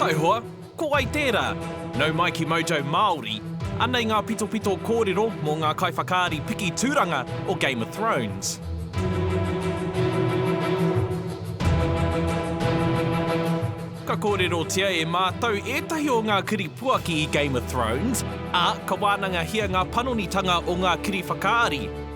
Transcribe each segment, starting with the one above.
Taihoa, ko wai tērā? Nau mai ki Mojo Māori, anei ngā pitopito kōrero mō ngā kaiwhakaari piki tūranga o Game of Thrones. Ka kōrerotia e mātou ētahi o ngā kiri puaki i Game of Thrones, ā, ka wānangahia ngā panonitanga o ngā kiri whakaari,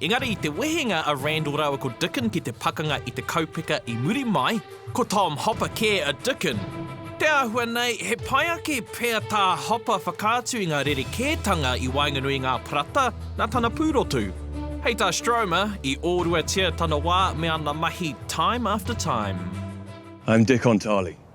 Engari i te wehenga a Randall rāua ko Dicken ki te pakanga i te kaupeka i muri mai, ko Tom Hopper kē a Dicken. Te āhua nei, he pai ake pea tā Hopper whakaatu i ngā rerekētanga i waenganui i ngā parata nā tana pūrotu. Hei tā Stromer, i ōruatia tana wā me ana mahi time after time. I'm Dick Ontali,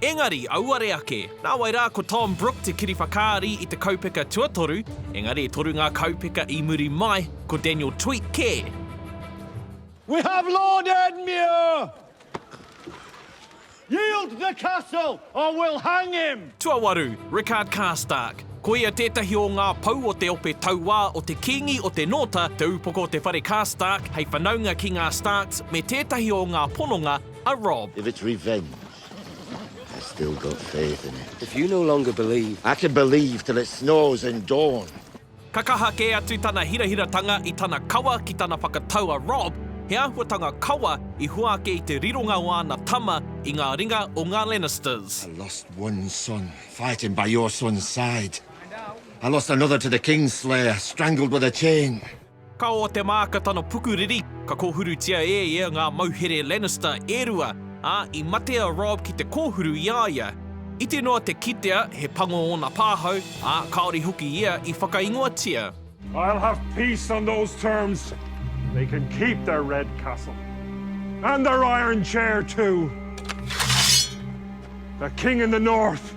Engari, auare ake. Nāwai rā ko Tom Brooke te kiri whakaari i te kaupeka tuatoru, engari e toru ngā kaupeka i muri mai, ko Daniel Tweet kē. We have Lord Edmure! Yield the castle or we'll hang him! Tuawaru, Rickard Karstark. Ko ia tētahi o ngā pou o te ope tauā o te Kīngi o te Nōta, te upoko o te whare Karstark hei whanaunga ki ngā Starks me tētahi o ngā pononga a Robb. If it's revenge, I still got faith in it. If you no longer believe. I can believe till it snows in dawn. Ka kaha kē atu tana hirahiratanga i tana kawa ki tana whakatau a Rob, he āhuatanga kawa i hua ake i te rironga o āna tama i ngā ringa o ngā Lannisters. I lost one son fighting by your son's side. I lost another to the Kingslayer, strangled with a chain. Ka oa te māka tana pukuriri, ka kōhurutia e ia ngā mauhere Lannister e rua, ā, i mate a Robb ki te kōhuru i a ia. Iti noa te kitea he pango ōna pāhau, ā, kāore hoki ia i whakaingoatia. I'll have peace on those terms. They can keep their red castle. And their iron chair too. The King in the North!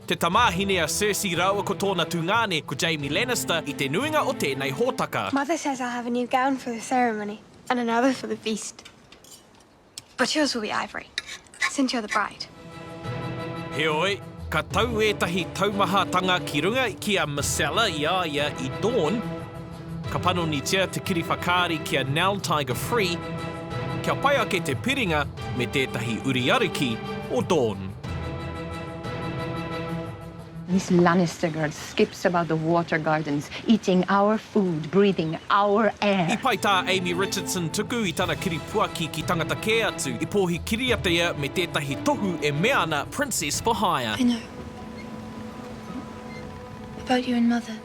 te tamāhine a Cersei rāua ko tōna tungāne, ko Jaime Lannister, i te nuinga o tēnei hōtaka. Mother says I'll have a new gown for the ceremony and another for the feast. But yours will be ivory, since you're the bride. Heoi, ka tau ētahi taumahatanga ki runga ki a Myrcella i a ia i Dorne, Ka panonitia te kiri whakaari ki a Nell Tiger Free kia pai ake te piringa me tētahi uri ariki o Dawn. Miss Lannister girl skips about the water gardens, eating our food, breathing our air. I pai tā Amy Richardson tuku i tana kiri puaki ki tangata kē atu, i pōhi kiriata ia me tētahi tohu e mea ana Princess for Hire. I know. About you and mother.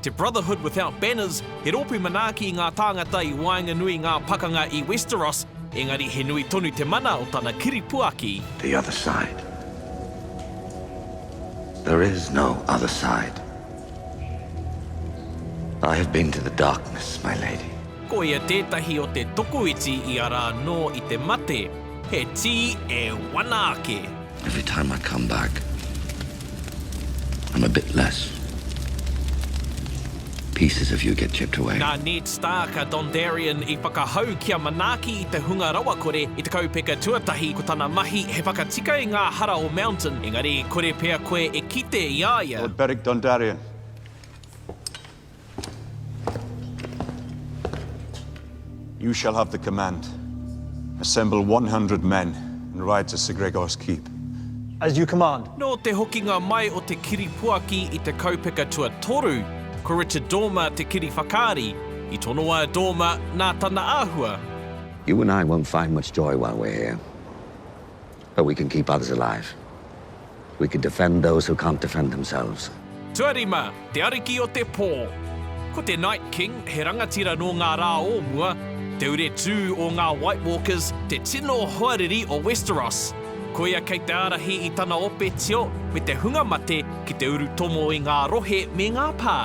Te Brotherhood Without Banners, he rōpū manaaki i ngā tāngata i waenganui i ngā pakanga i Westeros, engari he nui tonu te mana o tana kiri puaki. The other side. There is no other side. I have been to the darkness, my lady. Koia tētahi o te tokoiti i ara anō i te mate. He tī e wana ake. Every time I come back I'm a bit less Pieces of you get chipped away. Nā Ned Stark a Dondarrion i whakahau kia manaaki i te hunga rawakore i te kaupeka tuatahi, ko tana mahi he whakatika i ngā hara o Mountain, engari kore pea koe e kite i a ia. Lord Beric Dondarrion. You shall have the command. Assemble 100 men and ride to Sir Gregor's keep. As you command. Nō te hokinga mai o te kiripuaki i te kaupeka tuatoru, ko Richard Dormer te kiri whakaari, i tonoa e Dormer nā tana āhua. You and I won't find much joy while we're here. But we can keep others alive. We can defend those who can't defend themselves. Tuarima, te ariki o te pō. Ko te Night King, he rangatira nō ngā rā o mua, te uretū o ngā White Walkers, te tino hoariri o Westeros. Koia kei te ārahi i tana ope tio me te hunga mate ki te urutomo i ngā rohe me ngā pā.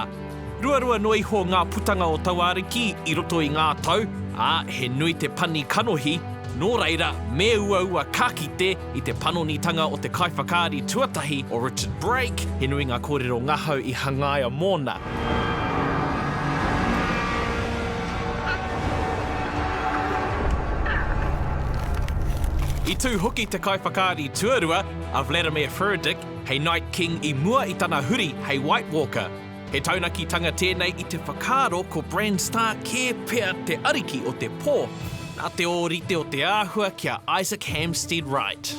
Ruarua noa iho ngā putanga o tauāriki i roto i ngā tau, ā, he nui te pani kanohi, nō reira, me uaua ka kite, i te panonitanga o te kaiwhakaari tuatahi o Richard Brake, he nui ngā kōrero ngahau i hangaia mōna. I tū hoki te kaiwhakaari tuarua, a Vladimir Furdyk, hei Night King i mua i tana huri hei White Walker. He taunakitanga tēnei i te whakaaro ko Bran Stark kē pea te ariki o te pō, nā te ōrite o te āhua ki a Isaac Hampstead Wright.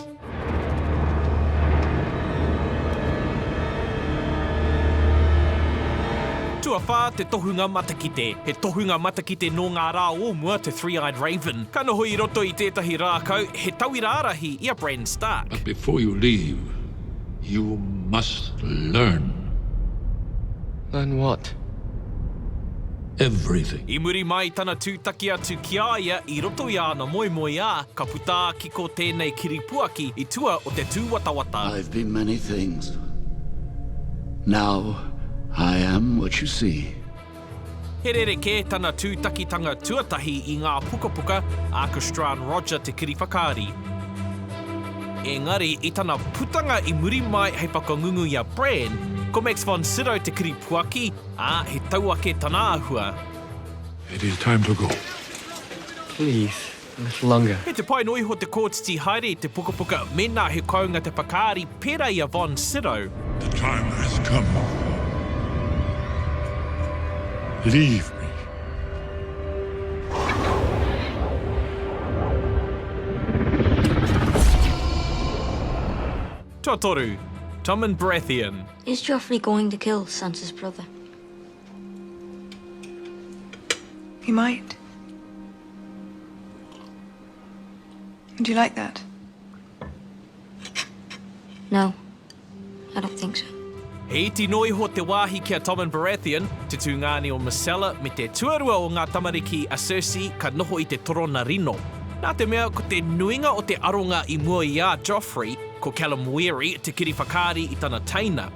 Tuawhā, te tohunga matakite. He tohunga matakite nō ngā rā o mua te Three-Eyed Raven. Ka noho i roto i tētahi rākau, he tauira ārahi i a Bran Stark. But before you leave. You must learn. Learn what? Everything. I muri mai tana tūtaki atu ki a ia i roto i āna moemoeā, ka puta ki ko tēnei kiripuaki i tua o te tūwatawata. I've been many things. Now I am what you see. He rerekē tana tūtakitanga tuatahi i ngā pukapuka a Christran Roger Te Kiriwhakaari. Engari, i tana putanga i muri mai hei whakangungu i a Bran, ko Max von Sydow te kiripuaki, ā, he tauake tana āhua. It is time to go. Please. Langa. Kei te pai noa iho te kōtiti haere i te pukapuka mēnā he kounga te whakaari, pērā i a Von Sydow. The time has come. Leave me. Tuatoru, Tommen Baratheon. Is Joffrey going to kill Sansa's brother? He might. Do you like that? No. I don't think so. He iti noa iho te wāhi ki a Tommen Baratheon, te tūngāne o Myrcella, me te tuarua o ngā tamariki a Cersei ka noho i te torona rino. Nā te mea ko te nuinga o te aronga i mua i a Joffrey, ko Callum Weary te kiri whakaari i tana teina.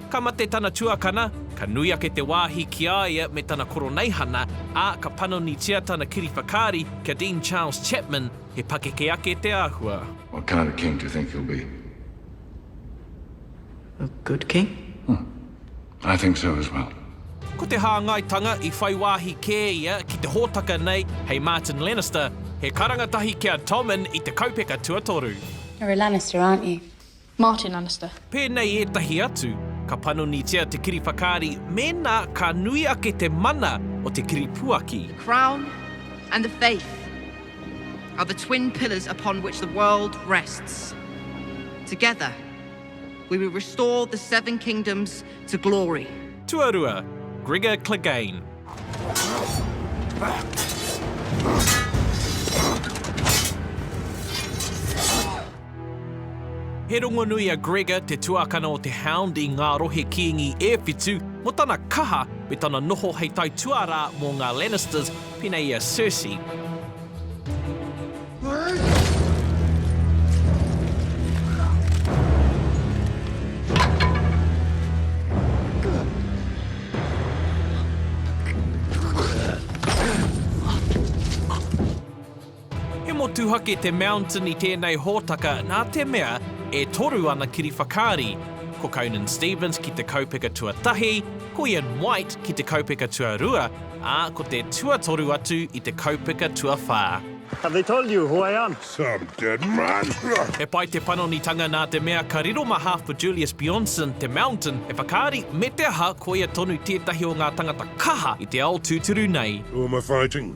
Ka mate tana tuakana, ka nui ake te wāhi ki a ia me tana koroneihana, ā, ka panonitia tana kiri whakaari kia Dean Charles Chapman, he pakeke ake te āhua. What kind of king do you think he'll be? A good king. Huh. I think so as well. Ko te hāngaitanga i whai wāhi kē ia ki te hōtaka nei hei Martin Lannister, he karanga tahi ki a Tommen i te kaupeka tuatoru. You're a Lannister, aren't you? Martin Annister. Pēnei ētahi atu, ka panonitia te kiri whakaari mēnā ka nui ake te mana o te kiri puaki. The Crown and the Faith are the twin pillars upon which the world rests. Together we will restore the Seven Kingdoms to glory. Tuarua, Gregor Clegane. He rongonui a Gregor, te tuakana o te Hound i ngā rohe kīngi e whitu, mō tana kaha me tana noho hei tae tuarā mō ngā Lannisters, pēnā i a Cersei, He motuhake te Mountain i tēnei hōtaka nā te mea e toru ana kiri whakaari, ko Conan Stevens ki te kaupeka tuatahi, ko Ian White ki te kaupeka tuarua, ā, ko te tuatoru atu i te kaupeka tuawhā. Have they told you who I am? Some dead man! He pai te panonitanga nā te mea ka riro mā Half Julius Bjornsson te Mountain e whakaari me te aha ko ia tonu tētahi o ngā tangata kaha i te ao tūturu nei. Who am I fighting?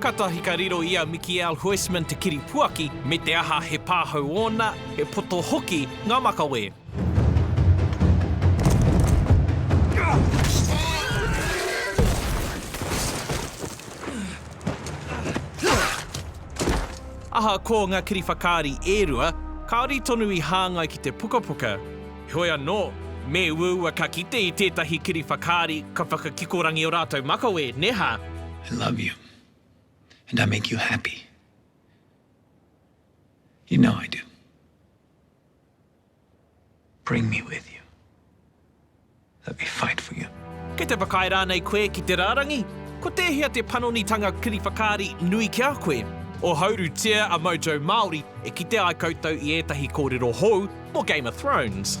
Katahi ka riro i a Mikiel Huisman te kiripuaki, me te aha he pāhau ōna, he poto hoki ngā makawe. Ahakoa ngā kiriwhakaari e rua, kāore tonu i hāngai ki te pukapuka. Heoi anō, me uaua ka kite i tētahi kiri whakaari ka whakakikorangi ō rātou makawe, nē hā? I love you and I make you happy. You know I do. Bring me with you. Let me fight for you. Kei te whakaae rānei koe ki te rārangi? Ko tēhea te panonitanga kiri whakaari nui ki a koe? Ohourutia a Mojo Māori e kite ai koutou i ētahi kōrero hou mō Game of Thrones.